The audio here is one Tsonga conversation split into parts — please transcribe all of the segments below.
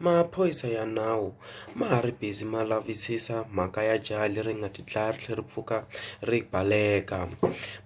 Maphorisa ya nawu ma ha ri busy ma lavisisa mhaka ya jaha leri nga ti dlaya ri tlhela ri pfuka ri baleka.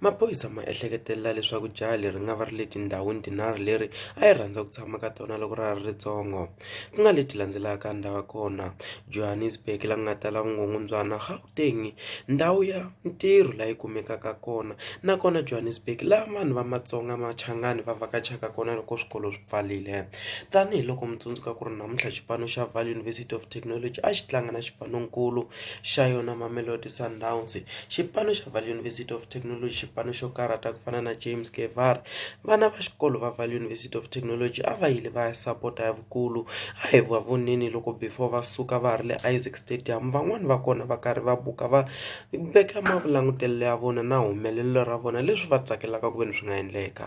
Maphorisa ma ehleketelela leswaku jaha leri nga va ri le tindhawini tinharhu leri a yi rhandza ku tshama ka tona loko ra ha ri ritsongo, ku nga leti landzelaka Ndavakona, Johannesburg laha ku nga tala vukungundzwana. Gauteng ndhawu ya ntirho laha yi kumekaka kona nakona Johannesburg laha vanhu va matsonga machangani va vhakachaka kona loko swikolo swi pfarile tanihiloko mi tsundzuka ku ri namuntlha xipano xa Vaal University of Technology a xi tlanga na xipano nkulu xa yona Mamelodi Sundowns xipano xa Vaal University of Technology xipano xo karhata ku fana na James va vana va xikolo va Vaal University of Technology a va yile va ya sapota ya vu. Kulu a hi va voneni loko before va suka va ha ri le Isaac Stadium van'wani va kona va karhi va buka va veka mavulangutelelo ya vona na humelelo ra vona leswi va tsakelaka ku ve ni swi nga endleka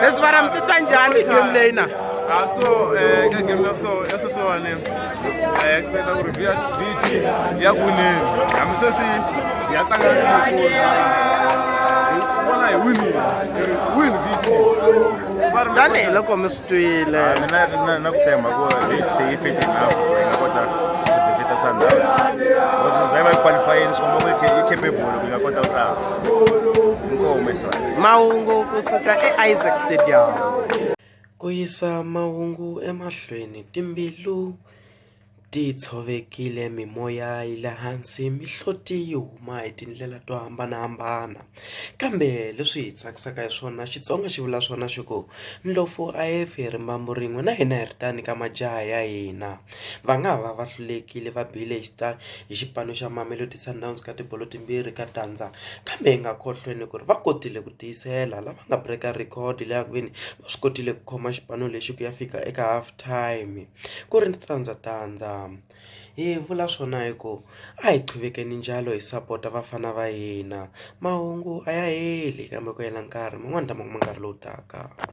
leswi vana mi titwa njhani game leyi na a ah, so eh, ka game ya so ya sweswiwani eh, ya xipeta ku ri vt ya kuneni hambi sweswi ya tlanga tikulu hi vona hi winile win vt tanihiloko mi twile Ah, mina na- na ku tshemba ku Leeds yi fit enough ku yi nga kota ku defeat Sundowns because za yi va yi qualifyini swi komba ku yi ca- yi capable ku yi nga kota ku tlanga inkomo mesiwana mahungu kusuka eisaac stadium ku yisa mahungu emahlweni timbilu Ti tshovekile mimoya yi le hansi mihloti yi huma hi tindlela to hambanahambana kambe leswi hi tsakisaka hi swona Xitsonga xi vula swona xi ku ndlopfu a yi fi hi rimbambu rin'we na hina hi ri tano ka majaha ya hina va nga ha va va hlulekile va bile hi hi xipano xa Mamelodi Sundowns ka tibolo timbirhi ka tandza kambe hi nga khohlweni ku ri va kotile ku tiyisela lava nga break-a record leyi ya ku ve ni va swi kotile ku khoma xipano lexi ku ya fika eka half time. Ku ri tandza tandza hi vula swona hi ku a hi qhuvekeni njalo hi sapota vafana va hina mahungu a ya heli kambe ku hela nkarhi man'wani lama ma nkarhi lowu taka.